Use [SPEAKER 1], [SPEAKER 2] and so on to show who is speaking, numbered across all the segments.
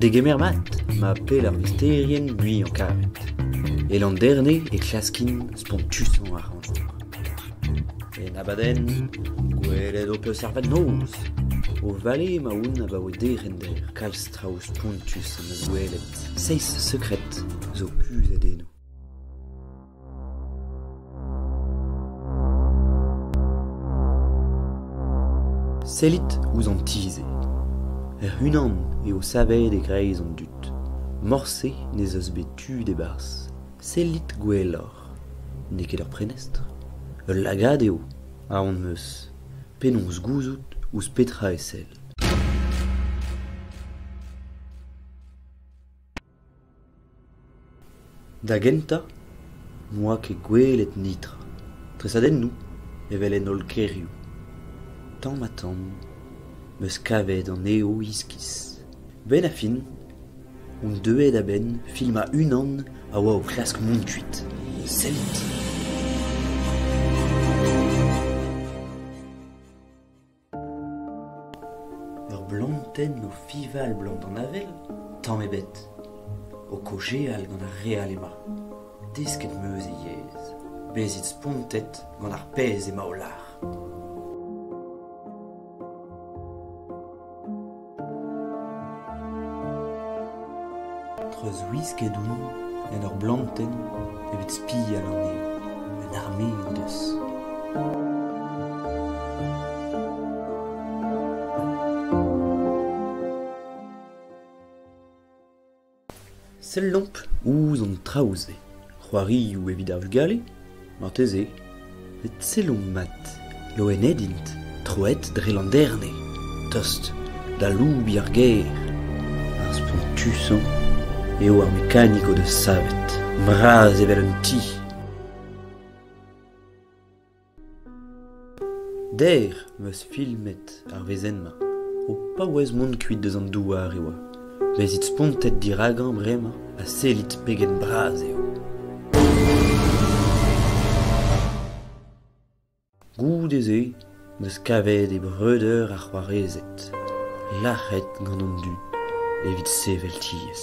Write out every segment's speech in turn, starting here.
[SPEAKER 1] Degemer mat ma pell ar vesterien buan-karet. E Landerne e klaskimp spontusañ ar rannvor. En abadenn, gwelet ho peus ar vag-noz, o vale ma oun abaoe derc'hender. Kalz traoù spontus am eus gwelet. Seizh sekred zo kuzhet eno. Sellit ouzh an ti-se. Hec'h-unan eo savet e-greiz an dud. Morse n'ez eus bet tu d'e-barzh. Sellit gwelloc'h. N'eo ket ur prenestr. Ul lagad eo, aon 'm eus. Penaos gouzout ouzh petra e sell. Da gentañ n'oa ket gwelet netra, tresadennoù evel en holl kêrioù. Tamm-ha-tamm 'm eus kavet anezho iskis. A-benn ar fin on deuet a-benn filmañ unan a oa o klask mont kuit. Sellit! Ur blantenn o fival 'blant an avel? Tamm ebet. O kaozeal gant ar re all ema. Desket 'm eus e yezh. Bezit spontet gant ar pezh ema o lar. Treuzwisket omp en ur blantenn evit spial anezhañ. Un arme o deus. Sellomp ouzh an traoù-se, c'hoarioù evit ar vugale ? Marteze. met sellomp mat, loened int, troet dre Landerne, tost d'aloubiñ ar gêr. Ar spontusañ eo ar mekanik o deus savet, bras evel un ti. Der 'm eus filmet ar wezenn-mañ. O paouez mont kuit deus an douar e oa. Lezit spontet diragañ bremañ ha sellit pegen bras eo. Goude-se 'm eus kavet e breudeur ar c'hoarezed lâret gant an dud evit sevel tiez.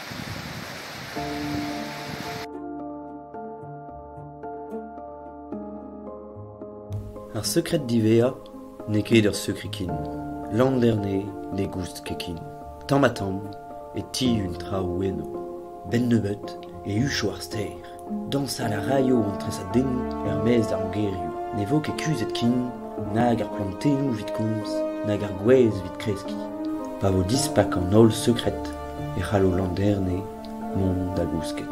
[SPEAKER 1] Ar sekred diwezhañ n'eo ket ur sekred ken. Landerne ne goust ket ken. Tamm-ha-tamm e tihun traoù enno. 'Benn nebeut e hucho ar stêr. Dañsal a raio an tresadennoù er-maez d'ar mogerioù ne vo ket kuzhet ken nag ar plantennoù evit komz nag ar gwez evit kreskiñ. Pa vo dispak an holl sekred e c'hallo Landerne mont da gousket.